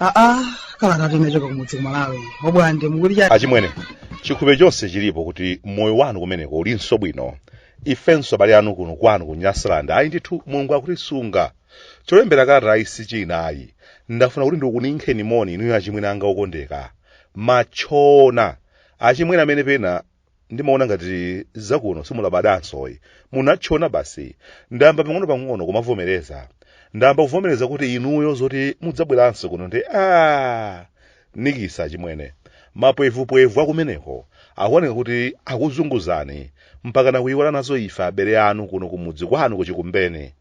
aa kalatatu inachoka kumudzi ku Malawi obwande mukuti cha achimwene chikhulupiriro chonse chilipo kuti moyo wanu kumeneko ulinso bwino ifenso abale anu kuno kwanu ku Nyasaland ayi ndithu Mulungu akutisunga Cholembera kalatayi sichina ayi ndafuna kuti ndikuninkheni moni inuyo achimwene anga okondeka. Matchona. Achimwene amene pena ndimaona ngati zakuno simulabadansoyi. Munatchona basi. Ndayamba pang'onopang'ono kumavomereza. Ndayamba kuvomereza kuti inuyo zoti mudzabweranso kuno nde aah! Nikisa achimwene. Mapwevupwevu akumeneko akuoneka kuti akuzunguzani mpakana kuiwala nazo ife abale anu kuno kumudzi kwanu ku Chikumbeni.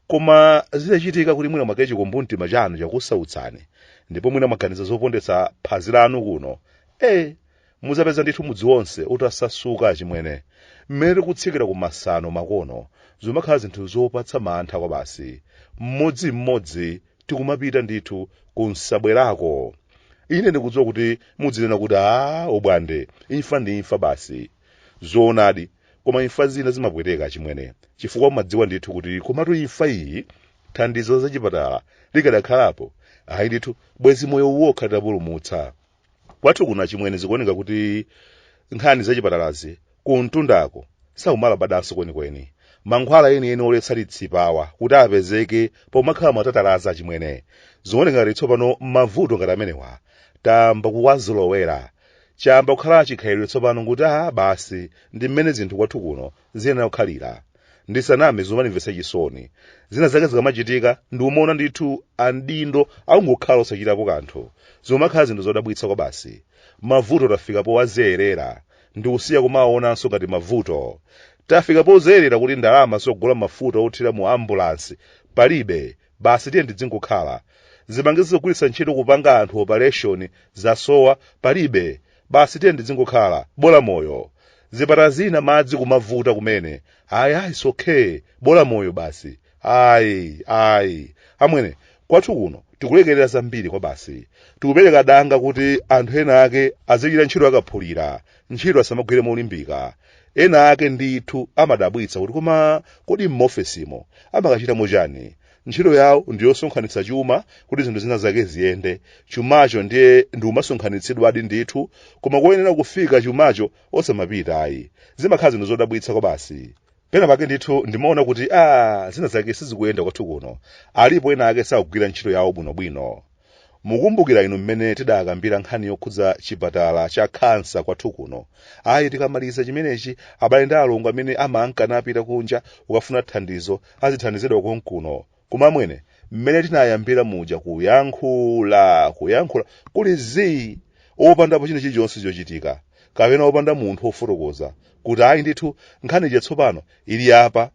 koma zitachitika kuti mwina mwake chikumbumtima chanu chakusautsani ndipo mwina mwaganiza zopondetsa phazi lanu kuno e mudzapeza ndithu mudzi wonse utasasuka achimwene mmene tikutsikira ku masano makono zimakhala zinthu zopatsa mantha kwa basi mmodzi mmodzi tikumapita ndithu ku nsabwerako ine ndikudziwa kuti mudzinena kuti a obwande imfa ndi imfa basi zoonadi Koma imfa zina zimapweteka achimwene chifukwa umadziwa ndithu kuti komatu imfa iyi thandizo la zachipatala likadakhalapo, ayi ndithu bwezi moyo uwokha titapulumutsa. Kwathu kuno achimwene zikuoneka kuti nkhani zachipatalazi kumtundako sakumalabadanso kwenikweni. Mankhwala enieni oletsa litsipawa kuti apezeke pomakhala matatalazi achimwene. Zikuoneka ngati tsopano mavuto ngati amenewa tayamba kuwazolowera Chayamba kukhala chikhalire tsopano kuti a basi ndi mmene zinthu kwathu kuno ziyenera kukhalira. Ndisaname zimandimvetsa chisoni. Zina zake zikamachitika ndikumaona ndithu amaudindo akungokhala osachitapo kanthu. Zikumakhala zinthu zodabwitsa kwabasi. Mavuto tafika powazolowera ndikusiya kumawaonanso ngati mavuto. Tafika pozolowera kuti ndalama zogula mafuta othira mu ambulansi palibe basi tiye tidzingokhala zipangizo zogwiritsa ntchito kupanga anthu operation zasowa palibe basi tiye tidzingokhala bola moyo zipatala zina madzi kumavuta kumene ayi ayi it's okay bola moyo basi ayi ayi amwene kwathu kuno tikulekerera zambiri kwa basi tikupereka danga kuti anthu ena ake azichita ntchito akaphulira ntchito asamagwire molimbika ena ake ndithu amadabwitsa kuti koma kodi m'maofesimo amakachitamo chani ntchito yawo ndi yosonkhanitsa chuma kuti zinthu zina zake ziyende chumacho ndiye chimasonkhanitsidwadi ndithu koma koyenera kufika chumacho osamapita ayi zimakhala zinthu zodabwitsa kwabasi pena pake ndithu ndimaona kuti aa zinazake sizikuyenda kwathu kuno alipo ena ake sakugwira ntchito yawo bwinobwino mukumbukira inu mmene tidakambira nkhani yokhudza chipatala cha khansa kwathu kuno ayi tikamaliza chimenechi abale ndi alongo amene amanka napita kunja kukafuna thandizo azithandizidwa konkuno Koma amwene, mmene tinayambira muja kuyankhula, kuyankhula, kuli zii, opandapo chinthu chilichonse chochitika, kapena opanda munthu ofotokoza, kuti ayi ndithu, nkhani ija tsopano, ili apa,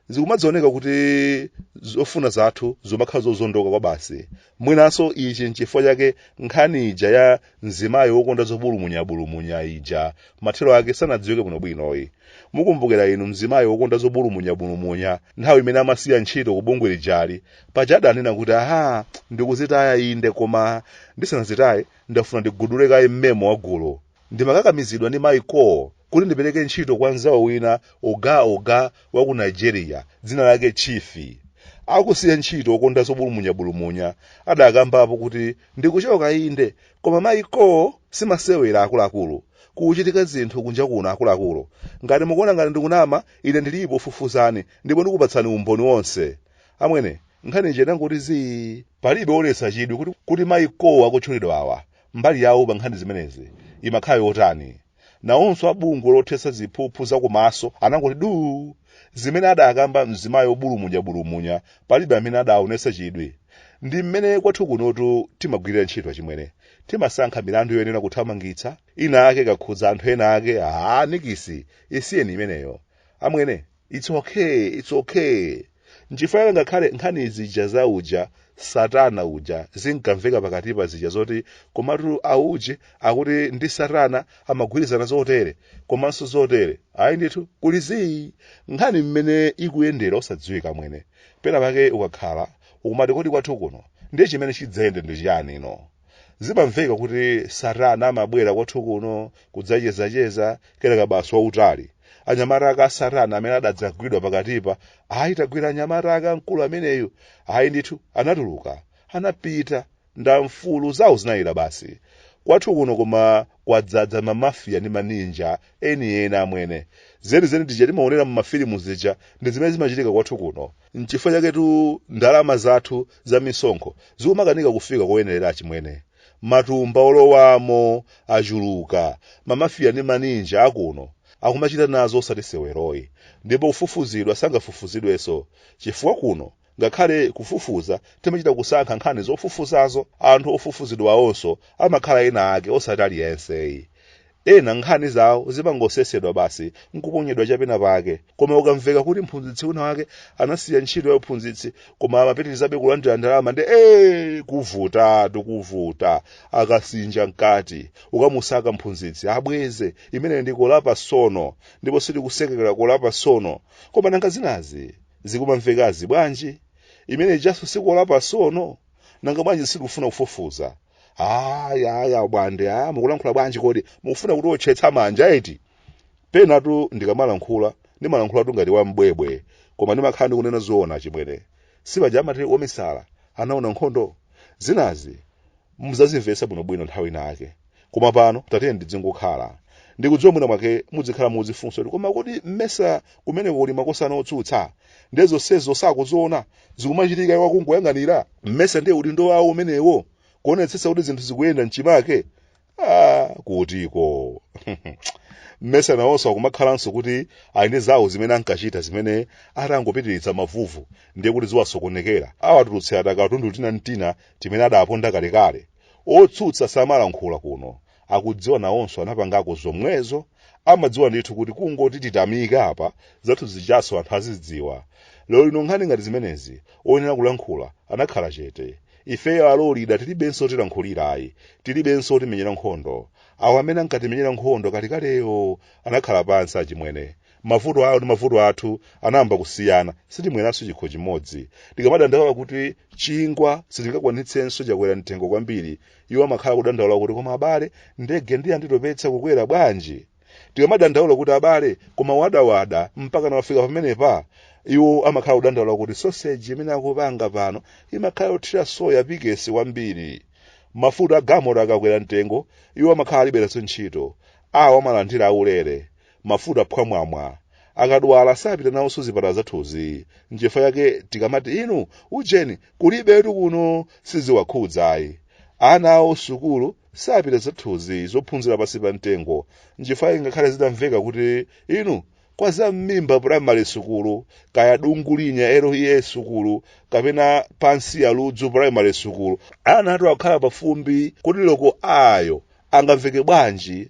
zikumadzioneka kuti zofuna zathu zimakhala zozondoka kwabasi, mwinanso ichi nchifukwa chake nkhani ija ya mzimayi wokonda zobulumunyabulumunya ija mathero ake sanadziwike bwinobwinoyi mukumbukira inu mzimayi wokonda zobulumunyabulumunya nthawi imene amasiya ntchito ku bungwe lijali paja adanena kuti aha ndikuzitaya inde koma ndisanazitaye ndafuna ndigudule kaye mmemo wa gule Ndimakakamizidwa ndi mayi Kooh kuti ndipereke ntchito kwa mnzawo wina, Oga Oga, wa ku Nigeria, dzina lake Chifi. Akusiya ntchito okonda zobulumunyabulumunya, adakambapo kuti, Ndikuchoka inde, koma mayi Kooh si masewera akuluakulu. Kumachitika zinthu kunja kuno akuluakulu. Ngati mukuona ngati ndikunama, ine ndilipo fufuzani ndipo ndikupatsani umboni wonse. Amwene, nkhani ija idangoti zii. Palibe woonetsa chidwi kuti mayi Kooh akutchulidwawa Mbali yawo pa nkhani zimenezi imakhala yotani? Nawonso a bungwe lothetsa ziphuphu za komaso anangoti duu! Zimene adakamba mzimayi wobulumunyabulumunya palibe amene adaonetsa chidwi. Ndi mmene kwathu kunotu timagwirira ntchito achimwene. Timasankha milandu yoyenera kuthamangitsa, inayake ikakhudza anthu enaake, haa nikisi! Isiyeni imeneyo. Amwene, its okay its okay nchifanira ngakhale nkhani zija za uja satana uja zinkamveka pakatipa zija zoti komatu auje akuti ndi satana amagwirizana zotere komanso zotere ayi ndithu kuli zii nkhani mmene ikuyendera osadziwika mwene pena pake ukakhala ukumati kodi kwathu kuno ndiye chimene chidzayende ndi chiyani no zimamveka kuti satana amabwera kwathu kuno kudzachezacheza kenaka basi wautali anyamata ake a satana amene adadzagwidwa pakatipa ayi tagwira anyamata ake a mkulu ameneyu ayi ndithu anatuluka anapita ndi amfulu zawo zinayera basi kwathu kuno koma kwadzadza mamafiya ndi maninja enieni amwene zenizeni zija timaonera mumafilimu zija ndi zimene zimachitika kwathu kuno nchifukwa chaketu ndalama zathu za misonkho zikumakanika kufika koyenerera achimwene matumba olowamo achuluka mamafiya ndi maninja akuno akumachita nazo osati seweroyi ndipo kufufuzidwa sangafufuzidwenso chifukwa kuno ngakhale kufufuza timachita kusankha nkhani zofufuzazo anthu ofufuzidwawonso amakhala ena ake osati aliyenseyi Ena nkhani zawo zimangosesedwa basi n'kuponyedwa chapena pake. Koma kukamveka kuti mphunzitsi winawake anasiya ntchito yauphunzitsi koma amapitirizabe kulandira ndalama ndi ee kuvutatu kuvuta. Akasinja mkati, kukamusaka mphunzitsi abweze. Imeneyo ndi kolapasono, ndipo sitikusekerera kolapasono. Koma nanga zinazi zikumamvekazi bwanji? Imene ijanso si kolapasono? Nanga bwanji sitikufuna kufufuza? aya aya abwande aya mukulankhula bwanji kodi mukufuna kuti otchetsa manja eti penatu ndikamalankhula ndimalankhulatu ngati wambwebwe koma ndimakhala ndikunena zoona achimwene sipaja amati omisala anaona nkhondo zinazi muzazimvetsa bwinobwino nthawi ina yake koma pano tatiyeni ndidzingokhala ndikudziwa mwina mwake mudzikhala muzifunsa kuti koma kodi mmesa kumene kuli makosana otsutsa ndiye zonsezo sakuziona zikumachitika iwo akungoyang'anira mmesa ndiye udindo wawo umenewo kuonetsetsa kuti zinthu zikuyenda mchimake ah, kutiko mmesa nawonso akumakhalanso kuti ali ndi zawo zimene ankachita zimene atangopitiriza mavuvu ndiye kuti ziwasokonekera awatulutsira tikatundu tina ntina timene adaponda kalekale otsutsa samalankhula kuno akudziwa nawonso anapangako zomwezo amadziwa ndithu kuti kungoti titamika apa zathu zijanso anthu azidziwa lero lino nkhani ngati zimenezi oyenera kulankhula anakhala chete ifeyo alolida tilibenso otilankhulira ayi tilibenso otimenyera nkhondo awo amene ankatimenyera nkhondo kalekaleyo anakhala pansi achimwene mavuto awo ndi mavuto athu anayamba kusiyana sitimweranso chikho chimodzi tikamadandaula kuti chingwa sitingakwanitsenso chakwera mtengo kwambiri iwo amakhala kudandaula kuti koma abale ndege ndiye yanditopetsa kukwera bwanji tikamadandaula kuti abale koma wadawada mpaka nawafika pamenepa iwo amakhala kudandaula kuti soseji imene akupanga pano imakhala yothira soya pikesi kwambiri mafuta agalimoto akakwera mtengo iwo amakhala alibe nazo ntchito awo amalandira aulere mafuta phwamwamwa akadwala sapita nawonso zipatala zathuzi nchifukwa yake tikamati inu ujeni kulibetu kuno siziwakhudza ayi ana awo sukulu sapita zathuzi zophunzira pansi pa mtengo nchifukwa yake ngakhale zitamveka kuti inu kwa za mmimba primary sukulu kaya dungulinya lea sukulu kapena pansi ya ludzu primary sukulu ana athu akukhala pafumbi kodi loko ayo angamveke bwanji